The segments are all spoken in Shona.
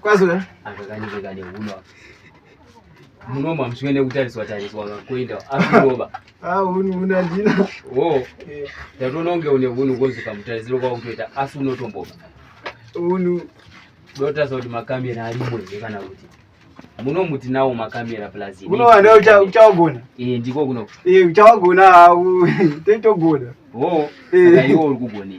kwazura akakanyika ne huno munoma mswene kutariswa tariswa kakwenda akuroba ah hunu huna ndina wo oh. eh. tatononge une hunu kozuka mutarisiro kwa kutoita asi unotomboba hunu dota zodi makamera ari mwe kana kuti munomuti nawo makamera plus unowana uchawagona eh ndiko kuno eh uchawagona hawo totogona ho saka iwo uri kugona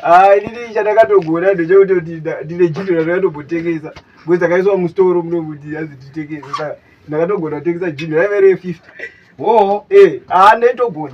ah ndiri chandakatogona ndechekuti kuti ndine jito randakatobotengesa because akaiswa mustoro munomuti azi titengesa saka ndakatogona kutengesa jito raive re 50 ho eh ah ndetogona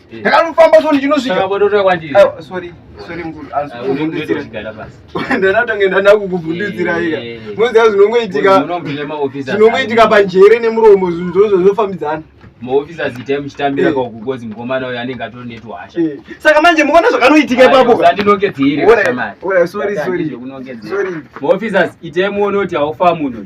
ndakanofamba so ndichinosvika sorry sorry mkuru ndanatange ndada kukuvhundudzira ika munoziva zvinongoitika zvinongoitika panjere nemuromo zvinhu zvozvo zvofambidzana maofisi azita emuchitambira eh. kaukukozi mukomana uyo anenge atori netuhasha eh. saka manje muona zvakanoitika ipapoandinongedzeireemaofisi aziita emuone kuti haufa munhu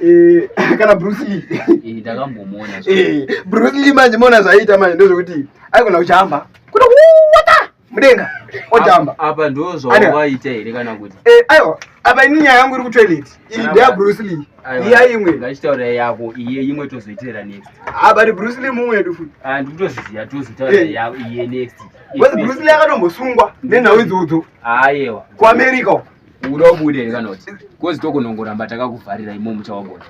Eh, kana bruce lee eh, takambomona eh, bruce lee manje mona zvaiita manje ndozvekuti aikona kuchamba kuti wata mudenga ochamba apa ndozvavaita here kana kuti aiwa apa ini nyaya yangu iri kutoilet iyi ndeya bruce lee iya imwe ngachitaura yako iye imwe tozoitera next abati ah, bruce lee mumwe yedu futi ah, ndikutozviziva tozotaura yako iye next wati bruce lee akatombosungwa nenhau idzodzo ayewa kuamerica uko uda ubude here kana kuti kozi tokunongoramba takakuvharira imo muchawagona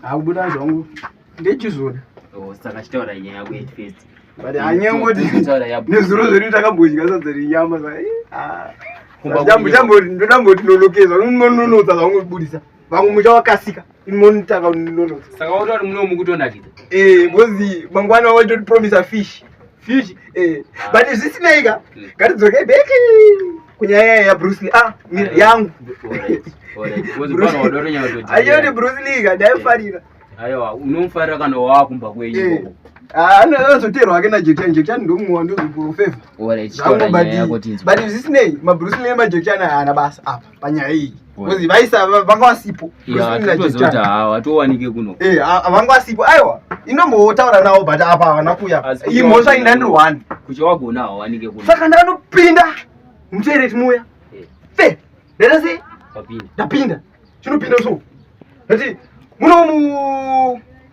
hakubuda zvangu ndechizoda oh, saka chitaura nyaya yako yet first but anyangoti nezuro zvedu takambodya sadza renyama ndodamboti nolokeza unononotsa zvaungobudisa vamwe muchawakasika imonitaka unono saka wototi muno mukutonakidza eh bozi mangwana waitoti promise a fish fish eh but zvisinei ka Mm. ngatidzokei back kunyaya yaya yabruce lee ah mira yangu ayoti bruce lee ka ndaifarira aiwa unomufarira kana waakumba kwenyu Eh. ikoko. Ah, ano- anozoteerwa hake najekichani jekichani ndomuwa ndozoprofeva Alright, taura nyaya yako tinzwe. but zvisinei mabruce lee nemajekichani haana basa apa panyaya iyi because vaisa vanga vasipo hatowanike kuno eh vanga vasipo aiwa inombotaura nawo but apa havana kuya imhosva inda ndiri one kuti wagona hawanike kuno saka ndakanopinda mutoireti muya eh. fe ndaita sei ndapinda chinopinda so ndati muno mu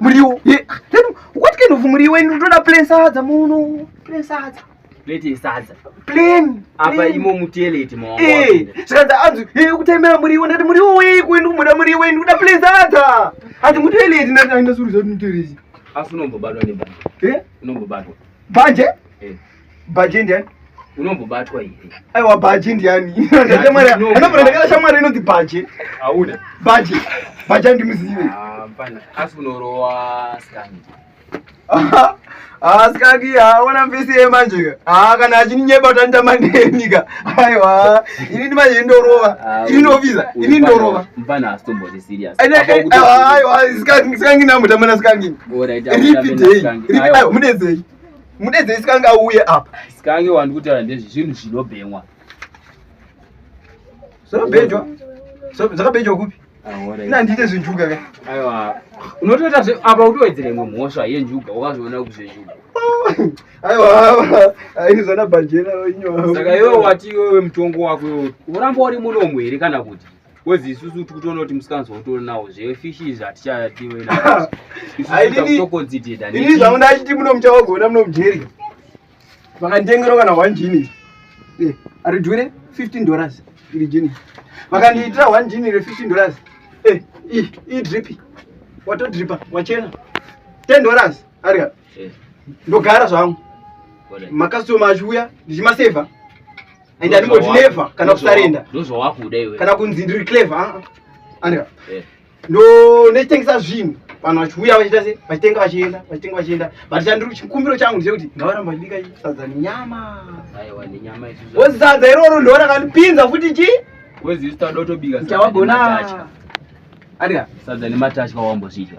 Muriwo. Ye. Then what kind of muriwo ino toda plain sadza muno. Plain sadza. Leti sadza. Plain. Apa imo muteleti mwangu. Eh. Sadza anzu. Ye kutemera muriwo ndati muriwo weyi kuenda kumoda muriwo ino kuda plain sadza. Ati muteleti ndati aina suru zati muteleti. Afu nombo badwa ne banje. Eh? Nombo badwa. Banje? Eh. Bhaji ndiani? Unombobatwa here? Aiwa bhaji ndiani? Anobvira ndakada shamwari inoti bhaji. Hauna. Bhaji. Bhaji andimuzive. Ah, mfana. Asi unorowa scan. Aha. asikaki ah, haona mfisi ye manje ka haa ah, kana achinyeba kuti anitamba neni ka aiwa ini ndi manje ndorova ah, ini ndoviza ini ndorova mfana asitomboti serious aiwa sikangi namutambana sikangi ripi day ripi aiwa mudedzei mudedze isikange auye apa isikange wandi kutaura ndezvi zvinhu zvinobhemwa zvinobhenjwa zvakabhenjwa kupi nandiite zvenjuga ka aiwa unotoita zve apa utowedzere imwe mhosva yenjuga wakazviona kuti zvenjuga aiwa aizana bhanjera inyoasaka iwe wati iwewe mutongo wako iwe uramba uri munomu here kana kuti Kwezi isusu tikutoona kuti musikanzwa kutori nawo zve fish izvi hatichatiwe na. Isusu dani. Ini zvangu ndachiti muno muchawagona muno mujeri. Vakandengero kana 1 jini. Eh, ari dure 15 dollars iri jini. Vakandiitira 1 jini re 15 dollars. Eh, i i dripi. Wato dripa, wachena. 10 dollars ari. Eh. Ndogara zvangu. Makasoma achuya ndichimaseva. and aningoti never kana kusarenda ndozvawakuda iwe kana kunzi ndiri clever ah, ah. andika eh. ndo nechitengesa zvinhu vanhu vachiuya vachiita se vachitenga vachienda vachitenga vachienda but chandiri chikumbiro changu ndechekuti ngavaramba vachibika sadza nenyama wozi sadza iroro ndo rakandipinza futi chi wezisitadotobika chawagona andika sadza nematasha wawambozvidya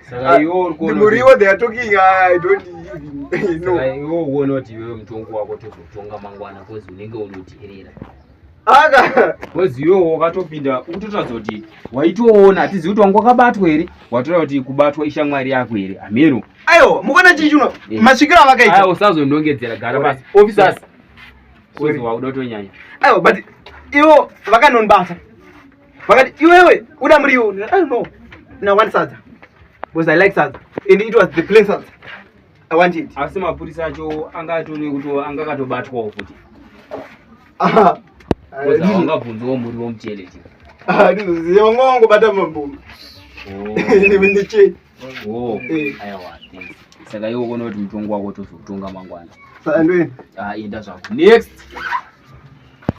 saka ah, iwo muriwo they are talking ah, i don't even know saka iwo uone kuti iwewe mutongo wako tozotonga mangwana cause unenge unoteerera aka cause iwewe wakatopinda ukutotadza kuti waitoona hatizivi kuti wanga wakabatwa here watoda kuti kubatwa ishamwari yako here hameno aiwa mukona chii chuno eh. masvikiro avakaita aiwa usazondongedzera gara pasi officers cause wakuda kutonyanya aiwa but iwo vakanonibata vakati iwewe uda muriwo i don't know na one sadza because i like sadza and it was the plain sadza i want it asi mapurisa acho anga atone kuti anga akatobatwawo futi aha ungabvunzawo muriwo muchele ti aha ndizoziva wanga wangobata mamboma ndichei oh. aiwa oh. eh. thanks saka iwe ukona kuti mutongo wako tozokutonga mangwana saka ndoenda ah, enda zvako next